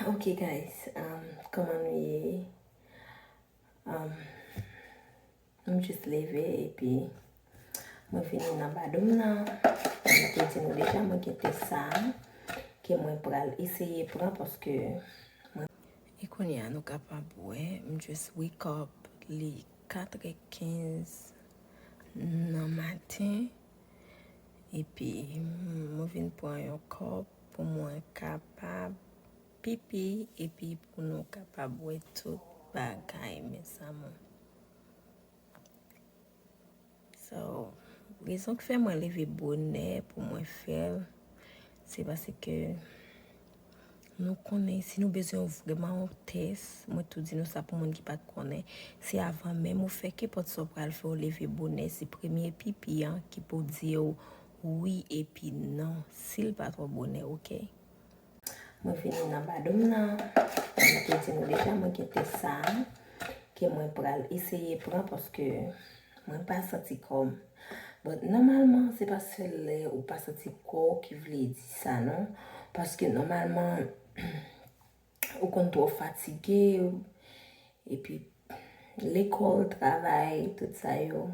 Ok guys kòman nou ye m jis leve epi mwen vini nan badoum nan mwen te di nou deja mwen gen tès sa ke mwen pral eseye pran paske mwen e kounye a nou kapab wè m jis wake up li 4 è 15 nan maten Epi mwen vin pran yon kòp pou mwen kapab pipi epi pou nou kapab wè tout bagay mes amour. So, rezon ki fè mwen leve bonè pou mwen fèl se paske Nou konnen si nou bezwen yon vrèman yon tès, mwen tou di nou sa pou moun ki pat konnen, se avan menm ou fè kenpòt sa ou pral fè ou leve bonè se premye pipi an ki pou diw wi epi non sil pa twò bonè ok. Mwen vini nan badoum nan, jan mwen te di nou deja mwen gen tès sa ke mwen pral eseye pran paske Mwen pa santi kòm. Bon nòmalman se pa sèl lè ou pa santi kò w ki vle di sa non. Paske nòmalman ou konn twò fatige epi lekòl, travay, tout sa yo.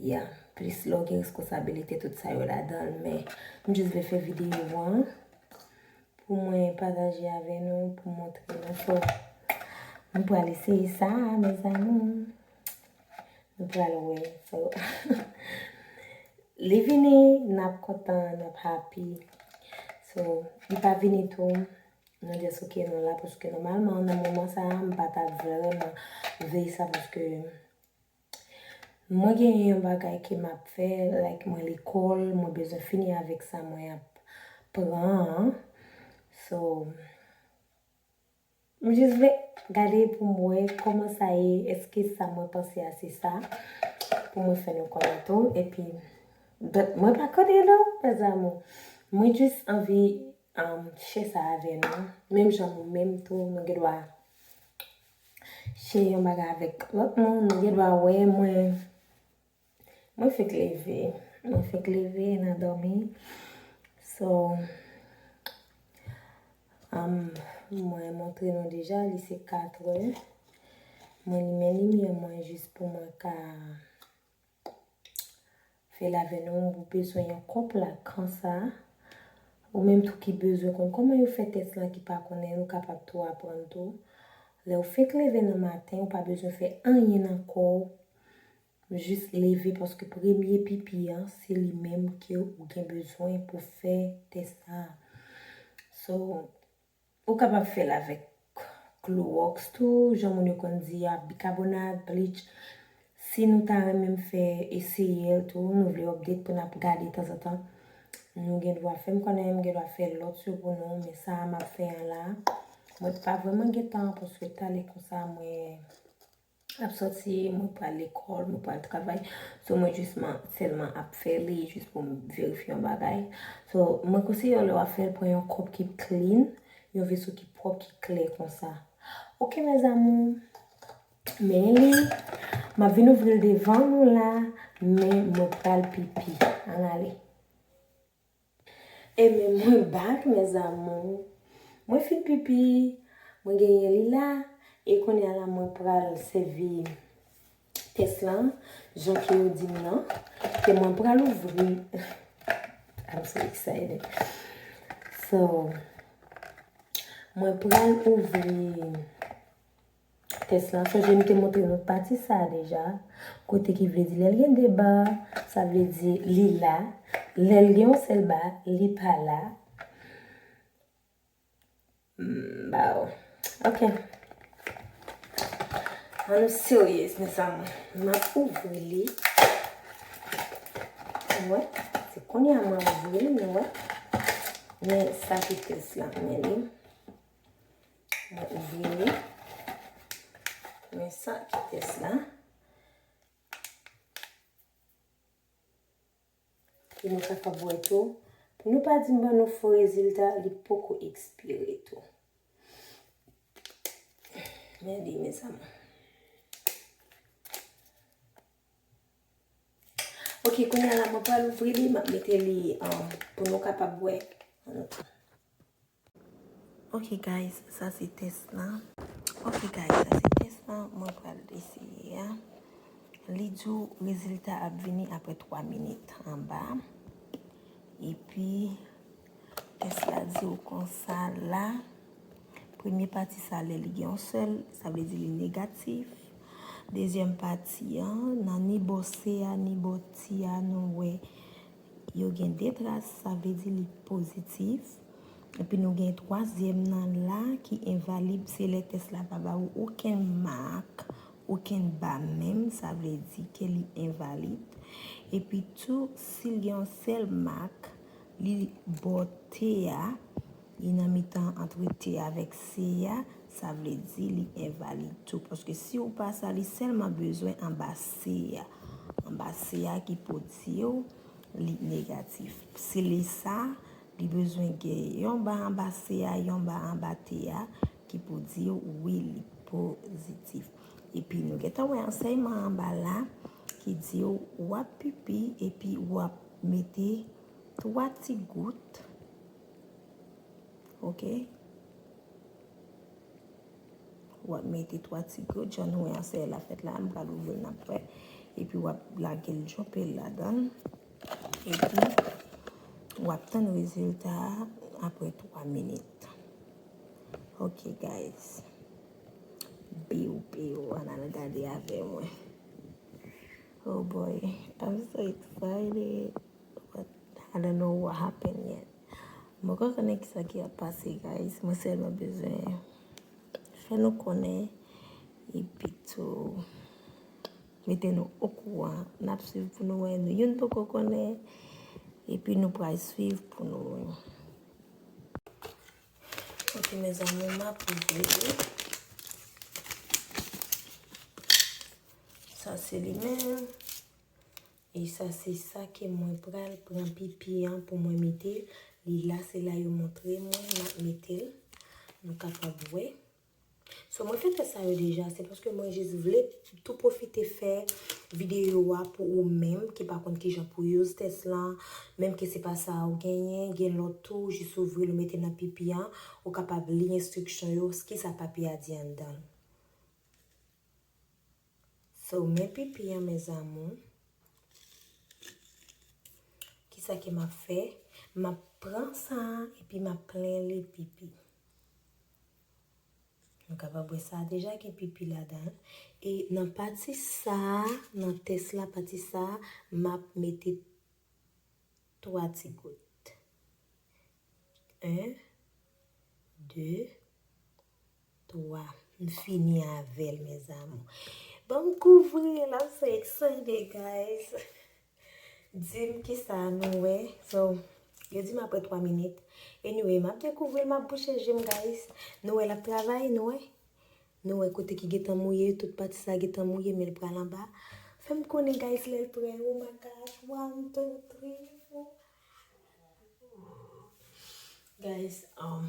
Ya, plis lè w gen reskonsabilite tout sa yo ladan l men m jis vle fè videyo an. Pou mwen pataje avè nou pou montre nou so nou pral eseye sa a mezanmi nou pral wè so li vini nap kontan nap happy so li pa vini tou nou just ok nou la paske nòmalman nan moman sa a m pa ta vreman vle sa paske Mwen genyen yon bagay ke map fè like mwen lekòl mwen bezwen fini avèk sa mwen ap pran an so m jis vle gade pou m wè kòman sa ye eske sa mwen panse a se sa pou mwen fè nou konnen tou epi but mwen pa konnen non mes amour mwen jis anvi share sa avè nou menm jan mwen menm tou mwen gen dwa Chè yon bagay avèk lòt moun, nou gen dwa wè mwen, mwen fèk leve, mwen fèk leve nan dòmi, so, mwen montre nou deja li se 4 è, mwen limen limyè mwen jis pou mwen ka. Fè l avè nou ou bezwen yon kòp la konsa ou menm tou ki bezwen konn kòman yo fè tès lan ki pa konnen ou kapab tou aprann tou. Lè ou fenk leve nan maten ou pa bezwen fè anyen nan kò ou jis leve paske premye pipi an se li menm ke ou gen bezwen pou fè tès sa. So Ou kapab fè l avèk klowòks tou, jan moun yo konn di a, bikabonat, bleach. Si nou ta renmen m fè eseye l tou, nou vle update pou n ap gade tanzantan, nou gen dwa fè m konnen, m gen dwa fè lòt yo pou nou, men sa a m ap fè an la, mwen pa vrèman gen tan paske tale konsa mwen. ap sòti, mwen k pral lekòl, mwen k pral travay. So mwen jis man sèlman ap fè li jis pou m verifye yon bagay. So mwen konseye w lè wap fè l pran yon kòp ki clean, yon veso ki pwòp, ki klè konsa. Ok mes amours, men li, map vin ouvri l devan nou la, men mwen pral pipi. Ann ale. E men mwen back mes amours. Mwen fin pipi, mwen genyen li la, e konya la mwen pral sèvi tès lan jan ke yo dim nan, ke mwen pral ouvri I'm so excited So mwen pral ouvri tès la. Sonje m te montre nou pati sa a deja, kote ki vle di lè l gen 2 ba, sa vle di li la, lè l gen yon sèl ba, li pa la. Baww. Ok. An nou seryez mes amour. M ap ouvri li. Ou wè? Se konye a m ap ouvri l, nou wè. Men sa ki tès la. Men li. Mwen ouvri li. Men sa ki tès la. Pou nou ka kap wè tou. Pou nou pa di m ban nou fo rezilta, li poko ekspire tou. Men li mes amour. Ok, kounye la mwen pa louvri li, map mete li pou nou kapab wè. Ok guys sa se test lan. Ok guys sa se test lan mwen pral eseye a. Li di w rezilta ap vini apre 3 minit anba. Epi test la di w konsa la. Premye pati sa lè li gen yon sèl sa vle di li negatif. Dezyèm pati an nan ni bò se a ni bò ti a nou wè. Yo gen 2 tras sa vle di li pozitif. Epi nou gen twazyèm nan la ki envalib se lè tès la pa ba ou okenn mak, okenn ba menm sa vle di ke li envalid. Epi tou si l gen yon sèl mak li bò T a. Li nan mitan antre T avèk C a, sa vle di li envalid tou. Paske si ou pa sa, li sèlman bezwen anba C a. Anba C a ki pou di ou li negatif. Si li sa, li bezwen gen yon ba anba C a, yon ba anba T a, ki pou di ou wi li pozitif. Epi nou gen tan wè ansèyman anba la, ki di ou wap pipi, epi wap mete 3 ti gout. Ok. Wap mete 3 ti gwo djan wè an se la fèt la. M pral ouvri nan pwè. E pi wap lage l djope l la dan. E pi wap tan rezilta apre 3 minit. Ok guys. Biw biw an al gade avè mwen. Oh boy. I'm so excited. But I don't know what happened yet. Mwen poko konnen kisa ki ap pase guys. Mwen sèlman bezwen fè nou konnen epi tou mete nou okouran. N ap swiv pou nou wè. Nou youn poko konnen epi nou pral swiv pou nou wè. Ok mezanmi m ap ouvri li. Sa se li menm. E sa se sa ke mwen pral pran pipi an pou mwen mete li la se la yo montre mwen map metel nou kapab wè so mwen fè tès sa yo deja se paske mwen jis vle tou pwofite fè videyo a pou ou menm ki pa konn kijan pou use tès lan menm ke se pa sa ou genyen gen lòt tou ou jis ouvril ou metel nan pipi an ou kapab li enstriksyon yo kisa papi a di anndanl. So men pipi an mes amour. Kisa ke map fè? Map pran sa epi map plen li pipi. Nou kapab wè sa deja gen pipi ladan. E nan pati sa, nan tès la pati sa, map mete 3 ti gout. 1, 2, 3 m fini avel mes amour. Banm kouvril la m so excited guys. Dim kisa nou wè. So yo dim apre 3 minit. Anyway map dekouvril map bouche jem guys. Nou wè lap travay nou wè. Nou wè kote ki gentan mouye tout pati sa gentan mouye men l pral anba. Fem konnen guys lel prè oh my gosh 1 2 3 4 Guys um.